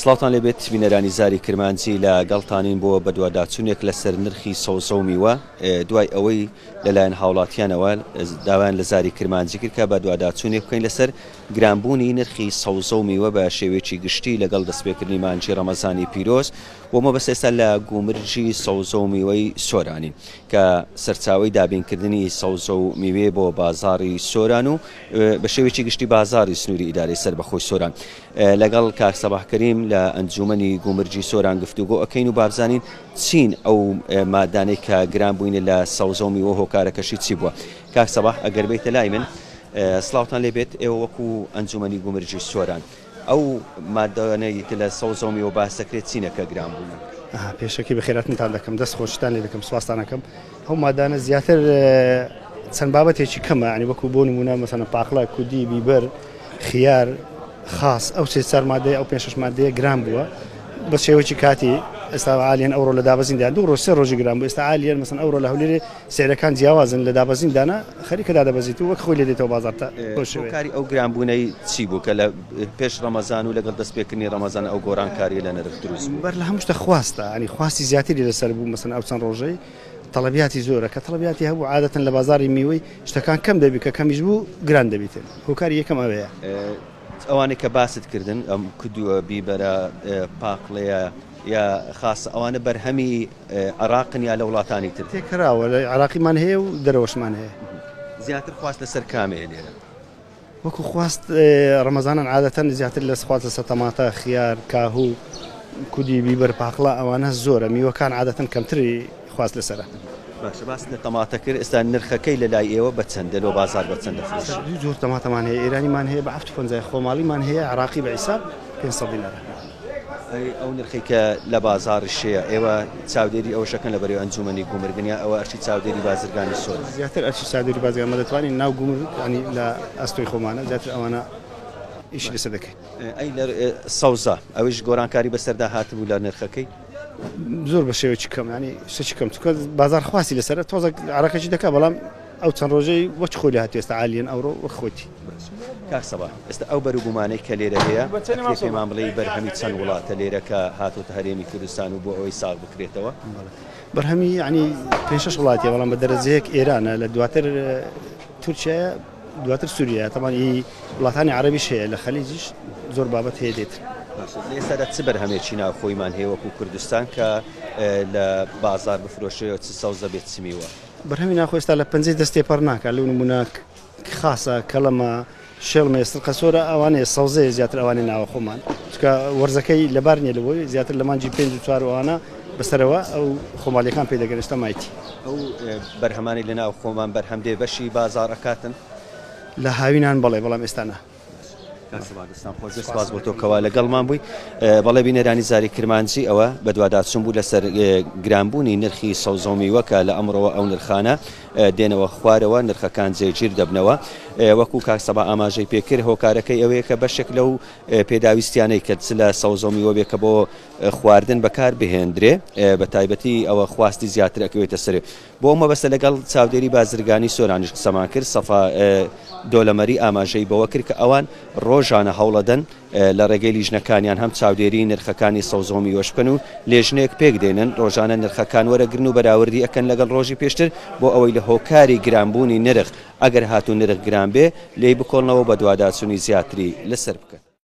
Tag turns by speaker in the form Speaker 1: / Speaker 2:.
Speaker 1: سڵاوتان لێبێت بینەرانی زاری کرمانجی لە گەڵتانین بۆ بەدواداچوونێک لەسەر نرخی سەوزە و میوە دوای ئەوەی لەلایەن هاوڵاتیانەوە داوایان لە زاری کرمانجی کرد کە بەدواداچوونێک بکەین لەسەر گرانبوونی نرخی سەوزە و میوە بە شێوەیەکی گشتی لەگەڵ دەستپێکردنی مانجی ڕەمەزانی پیرۆز و مەبەست ئێستا لە گومرجی سەوزە و میوەی سۆرانین کە سەرچاوی دابینکردنی سەوزە و میوێ بۆ بازاری سۆران و بە شێوەیەکی گشتی بازاری سنووری ئیدارەی سەر بەخۆی سۆران لەگەڵ کاک سەباح کەریم لە ئەنجوومەنی گومرگی سۆران گفتوگۆ ئەکەین و بابزانین چین ئەو مادانەی کە گران بووینە لە سەوزە و میوە هۆکارەکەشی چی بووە کاک سەباح ئەگەر بیتە لای من سلاوتان لێ بێت ئێوە وەکو ئەنجوومەنی گومرگی سۆران ئەو مادانەی کە لە سەوزە و میوە باس دەکرێت چینەکە گران بووە. ئەها پێشەکی
Speaker 2: بەخێراتنتان دەکەم دەست خۆشیتان لێ دەکەم سوپاستان ئەکەم. ئەو مادانە زیاتر چەند بابەتێکی کەمە ینی وەکو بۆ نمونە مەسەنە پاقلە کودی بیبەر خیار خاص ئەو سێ چار مادەیە ئەو پێ شش مادەیە گران بووە بە شێوەی کاتی ئێستا عالیان ئەوڕۆ لە دابەزیندا دوو ڕۆژ سێ ڕۆژی گران بوو ئێستا عالیان مەسن ئەوڕۆ لە هەولێرێ سێرەکان جیاوازن لە دابەزیندانا خەریکە دادەبەزیت و وەک خۆی لێ دێتەوە بازارتە کاری ئەو
Speaker 1: گرانبوونەی چی بوو کە لە پێش ڕەمەزان و لەگەڵ دەستپێکردنی ڕەمەزان ئەو گۆرانکاریە لە نرخ دروست بوو. بەر لە هەموو شتە خواستە،
Speaker 2: یانی خواستی زیاتری لەسەر بوو، مەسەلەن ئەو چەند ڕۆژەی تەڵەبیاتی زۆرە، کە تەڵەبیاتی هەبوو عادەتەن لە بازاڕی میوەی شتەکان کەم دەبی، کە کەمیش بوو گران دەبیتن، هۆکاری یەکەم ئەوەیە. ئەوانەی
Speaker 1: کە باست کردن، ئەم کدووە، بیبەرە، پاقلەیە یا خاسە، ئەوانە بەرهەمی عێراقن یا لە وڵاتانی تر؟ تێکراوە، لە عێراقیمان
Speaker 2: هەیە و دەرەوەشمان هەیە. زیاتر خواست
Speaker 1: لەسەر کامەیە لێرە؟ وەکو
Speaker 2: خواست ڕەمەزانان عادەتەن زیاتر لە خواست لەسەر تەماتە، خیار، کاهو، کودی، بیبەر، پاقلە ئەوانە زۆرە، میوەکان عادەتەن کەمتری خواست لەسەرە. باشە باست لە
Speaker 1: تەماتە کرد ئێستا نرخەکەی لە لای ئێوە بە چەندە لۆ بازار بە چەند دەفرۆشرێ؟ دوو جۆر تەماتەمان هەیە
Speaker 2: ئێرانیمان هەیە بە حەفت و پەنجا خۆماڵیمان هەیە عێراقی بە حیساب پێنج سەد دینارە. ئەی ئەو
Speaker 1: نرخەی کە لە بازاڕی شەیە ئێوە چاودێری ئەوەشەکەن لە بەرەی ئەنجومەنی گومرگن یا ئەوە ئەرکی چاودێری بازرگانی سۆرە؟ زیاتر ئەرکی چاودێری
Speaker 2: بازرگان مە دەتوانین ناو گومرگ ینی لە ئەستۆی خۆمانە زیاتر ئەوانە ئیشی لەسەر دەکەین. ئەی لە
Speaker 1: سەوزە ئەویش گۆرانکاری بەسەردا هاتبوو لە نرخەکەی؟ زۆر بە
Speaker 2: شێوەیەکی کەم ینی شتێکی کەم چونکە بازاڕ خواستی لەسەرە تۆزێک عەرەقێکی دەکا بەڵام. ئەو چەند ڕۆژەی وەک خۆی لێهاتووە ئێستا عالیەن ئەوڕۆ وەک خۆیتی. باشە کاک سەباح
Speaker 1: ئێستا ئەو بەرو بومانەی کە لێرە هەیە ئەکرێ پێمان بڵێی بەرهەمی چەند وڵاتە لێرە کە هاتۆتە هەرێمی کوردستان و بۆ ئەوەی ساغ بکرێتەوە؟ بەڵێ بەرهەمی
Speaker 2: یەعنی پێنج شەش وڵاتە بەڵام بە دەرەجەیەک ئێرانە لە دواتر تورکیایە دواتر سووریایە تەمان ئی وڵاتانی عەرەبیش هەیە لە خەلیجیش زۆر بابەت هەیە دێت. باشە لە ئێستادا چ
Speaker 1: بەرهەمێکی ناوخۆیمان هەیە وەکوو کوردستان کە لە بازاڕ بفرۆشرێ و چ سەوزە بێت چ میوە؟ بەرهەمی ناخۆ ئێستا لە
Speaker 2: پەنجەی دەست تێپەڕ ناکات، لەو نموونە خاسە، کەڵەمە، شێڵمەیە، سرقەسۆرە، ئەوانەیە، سەوزەیە زیاتر ئەوانەی ناوەخۆمان، چونکە وەرزەکەی لەبار نییە لەوەی زیاتر لە مانگی پێنج و چوار و ئەوانە بەسەرەوە ئەو خۆماڵییەکان پێ دەگەن، ئێستا مایتی. ئەو
Speaker 1: بەرهەمانەی لە ناوخۆمان بەرهەم دێ بەشی بازاڕ ئەکاتن؟ لە
Speaker 2: هاوینان بەڵێ، بەڵام ئێستا نا. سپاس
Speaker 1: بۆ تۆ کەوا لەگەڵمان بووی. بەڵێ بینەرانی زاری کرمانجی ئەوە بەدواداچوون بوو لەسەر گرانبوونی نرخی سەوزە و میوە کە لە ئەمڕۆوە ئەو نرخانە دێنەوە خوارەوە، نرخەکان جێگیر دەبنەوە. وەکو کاک سەبا ئاماژەی پێکرد هۆکارەکەی ئەوەیە کە بەشێک لەو پێداویستیانەی کە چ لە سەوزە و میوە بێ کە بۆ خواردن بەکاربهێندرێ بە تایبەتی ئەوە خواستی زیاتر ئەکەوێتە سەرێ. بۆ ئەو مەبەستە لەگەڵ چاودێری بازرگانی سۆرانیش قسەمان کرد، سەفا دۆلەمەری ئاماژەی بەوە کرد کە ئەوان رۆژانە هەوڵەدەن لە رێگەی لیژنەکانیان هەم چاودێریی نرخەکانی سەوزە و میوەش بکەن و لێژنەیەک پێکدێنن رۆژانە نرخەکان وەرەگرن و بەراوردی ئەکەن لەگەڵ رۆژی پێشتر بۆ ئەوەی لە هۆکاری گرانبوونی نرخ ئەگەر هاتوو نرخ گران بێ لێی بکۆڵنەوە و بەدواداچوونی زیاتری لەسەر بکەن.